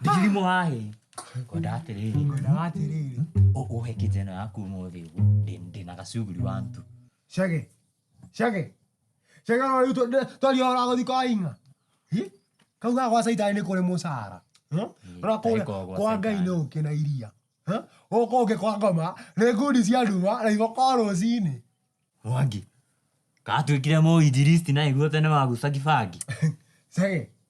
Ndigirimo hahe. Ngwenda atĩrĩrĩ. Ngwenda atĩrĩrĩ. Ũhe kĩnja ĩno yaku ũmũthĩ ũguo. Ndĩna gacuguri wa ntu. Cage. Cage. Cage ũrĩa rĩu twaria ũhoro wa gũthiĩ kwa Ing'a. Kau ga gwa Caitani nĩ kũrĩ mũcara. Ũrĩa kũrĩa kwa Ngai nĩ ũkĩ na iria. Gũkũ ũkĩ kwa ngoma nĩ ngundi cia nduma na iboko rũcinĩ. Mwangi, ka twĩkĩre Mũinjilisti na nĩguo tene waguca kĩbangi? Cage.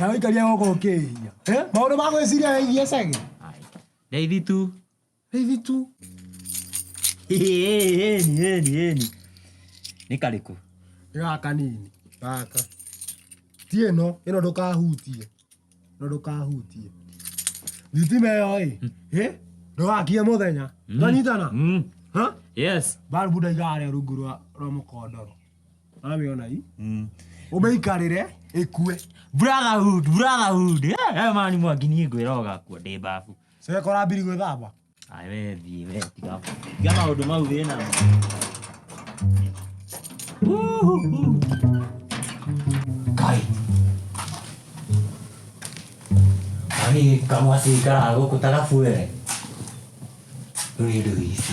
Na ũikaria gũkũ ũkĩhia. Eh? Maũndũ ma gwĩciria wĩgiĩ cagi. Raithi tu. Raithi tu. Heni, heni, heni. Nĩ karĩkũ? Nĩ gaka nini. Gaka. Ti ĩno, ĩno ndũkahutie. Ĩno ndũkahutie. Thitima ĩyo ĩ, hmm. ĩ, ndũgakie mũthenya. Hmm. Twanyitana? Hmm. Ha? Yes. Balbu ndaigaga rungu rwa mũkondoro. Amĩonai. Mm. Ũmĩikarĩre ĩkue. Brotherhood, brotherhood. Eh, eh, mani mwangi niĩ ngwĩra ũgakua ndĩ mbabu. Sasa kora mbiri gwĩthamba. Ai we thiĩ we tiga. Tiga maũndũ mau wĩ namo. Uhuhu. Kai. Ani kamwa sikara gũkũ tagabuere. Rĩu nĩ ndũgĩci.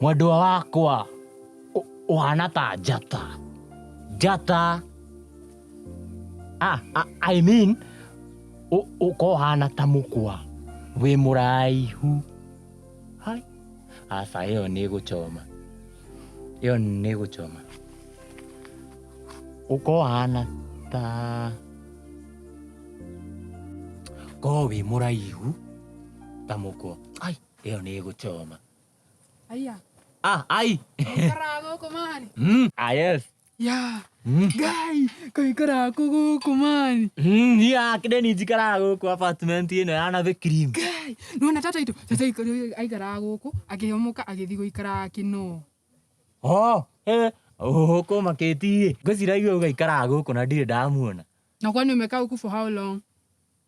mwendwa wakwa ũ- ũhana ta njata njata ah, ah, I mean, ũ- ũkohana ta mũkwa wĩ mũraihu Hai. aca ĩyo nĩ gũcoma ĩyo nĩ gũcoma ũkohana ta ko wĩ mũraihu ta mũkwa ai ĩyo nĩ ĩgũcoma Aya. ah ai Kaikaraga gũkũ mani. mm, ah yes Ya. mm. Ngai. Kaikaraga kũ gũkũ mani. Mm, niĩ akĩrĩ ni njikaraga gũkũ apartment ĩno ya nathĩ cream Ngai. Nona tata itũ. Tata itũ aikaraga gũkũ. Akĩhomoka agĩthiĩ gũikaraga kĩno. oh eh ũkũ makĩtiĩ ngũciragia ũgaikaraga gũkũ na ndirĩ ndamuona Na kwani umekaa huku for how long?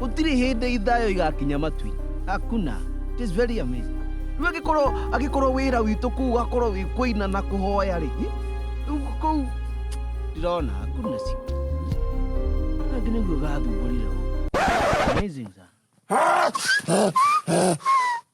Gũtirĩ hĩndĩ ithayo igakinya matwi. Hakuna. It is very amazing. Rĩu angĩkorwo angĩkorwo wĩra witũ kũu ũgakorwo wĩ kũina na kũhoya rĩ, rĩu kũu ndirona hakuna si. Angĩ nĩguo gathumburire. Amazing sana.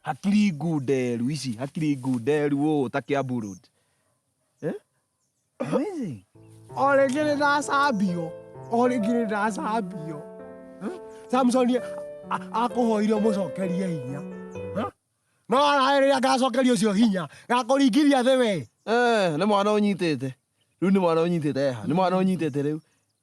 Hakiri ngunderu ici, hakiri ngunderu ũũ ta Kiambu Road. Eh? Amazing. O rĩngĩ nĩ ndacambio, o rĩngĩ nĩ ndacambio. Eh? Samson a- akũhoire mũcokerie hinya. Eh? No araĩ rĩrĩa ngacokeria ũcio hinya, ngakũringithia thĩ we. Eh, nĩ mwana ũnyitĩte. Rĩu nĩ mwana ũnyitĩte eha. Nĩ mwana ũnyitĩte rĩu.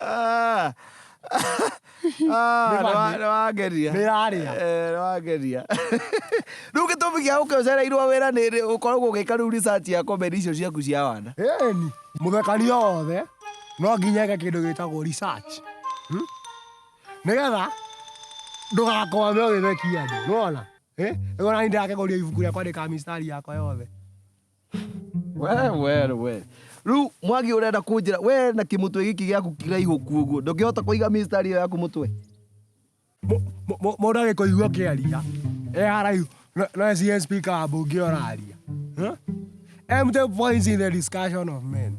Ah. Ah, Nĩ bambi. nĩwangeria Nĩ yarĩa. Eh, nĩwangeria rä u gä tå mi gä a gå kä å cereirwo wä ra nä rä å koragwo å gä ka rä u research ya komedi icio ciaku cia wana ĩni mũthekania wothe no nginya eke kĩndũ gĩtagwo research Hmm? nĩgetha ndũgakwame ũgĩthekia andũ nĩwona ĩgona nĩ ndĩrakĩgũria ibuku rĩakwa ndĩkamistari yakwa yothe we we we riu mwagi urenda kunjira we na kimutwe giki giaku kiraihu kuguo ndungihota kuiga mistari iyo yaku mutwe Mũndũ agĩkũigua ũkĩaria e haraihu no- no ecirie speaker wa mbunge ũraria. Huh? Empty points in the discussion of men.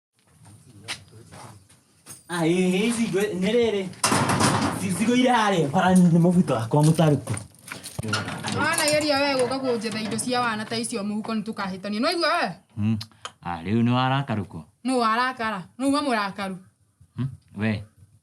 Ah, ĩ ĩ ici ngwĩ- nĩ rĩrĩ Ci- cigũire harĩa bara nĩ mũbuto wakwa mũtarũku wanageria we gũka kũnjetha indo cia wana ta icio mũhuko nĩ tũkahĩtania nĩ waigua we Hmm. Ah, rĩu nĩ warakarũkwo nũ warakara nũ wa mũrakaru Hmm. we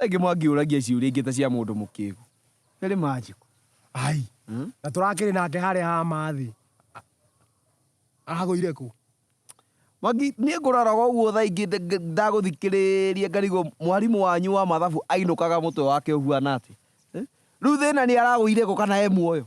Rĩngĩ mwangĩũragia ciũria ingĩ ta cia mũndũ mũkĩgu. Nĩrĩ manjĩku. Ai. Hmm? Na tũrakĩrĩ nake harĩa ha mathĩ. Agũire kũ? Magi, nĩ ngũraraga ũguo tha ingĩ ndagũthikĩrĩria ngarigwo mwarimũ wanyu wa mathabu ainũkaga mũtwe wake ũhuana atĩ. Eh? Rĩu thĩna nĩ aragũire kũ kana e muoyo?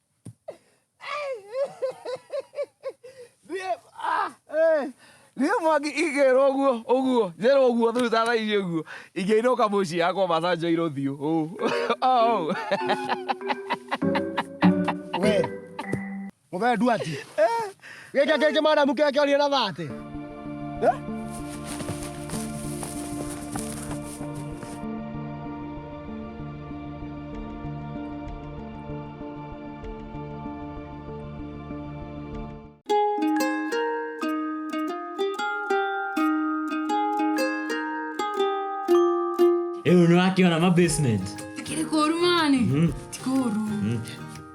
Niĩ- ah, eh, niĩ mwangi ingĩrwo ũguo ũguo njĩrwo ũguo thutha thaa ici ũguo ingĩinũka mũciĩ yakwa macanjo irũthiũ ũũ Oh. we mũthee nduati Gĩkĩ kĩngĩ madamu kĩrĩa kĩorire na thate. Rĩu nĩwakiona ma basement. Kĩrĩ kũru mani. Ti kũru.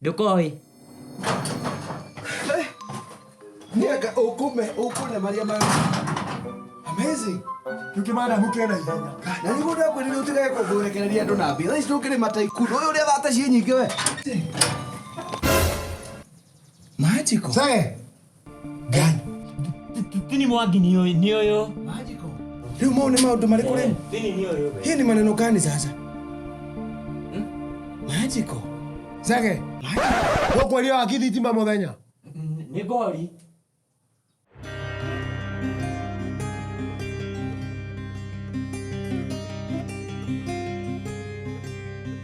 Được rồi Niaga ukume ukune Maria Maria. Amazing. Tukimana mukena ihenya. Na niguo ndakwirire utigae kũthũrekereria andũ na mbia. Thaa ici ndũkĩrĩ mataiku. Ũyũ ũrĩa thata ciĩ nyingĩ we. Magical. Sir. Gani? Thini mwangi ni uyu, ni uyu. Rĩu mau nĩ maũndũ marĩkũ rĩu? Thini ni uyu. Hii ni maneno gani sasa? Magical. Zage. Ũkwaria wa githitima mũthenya. Ni gori.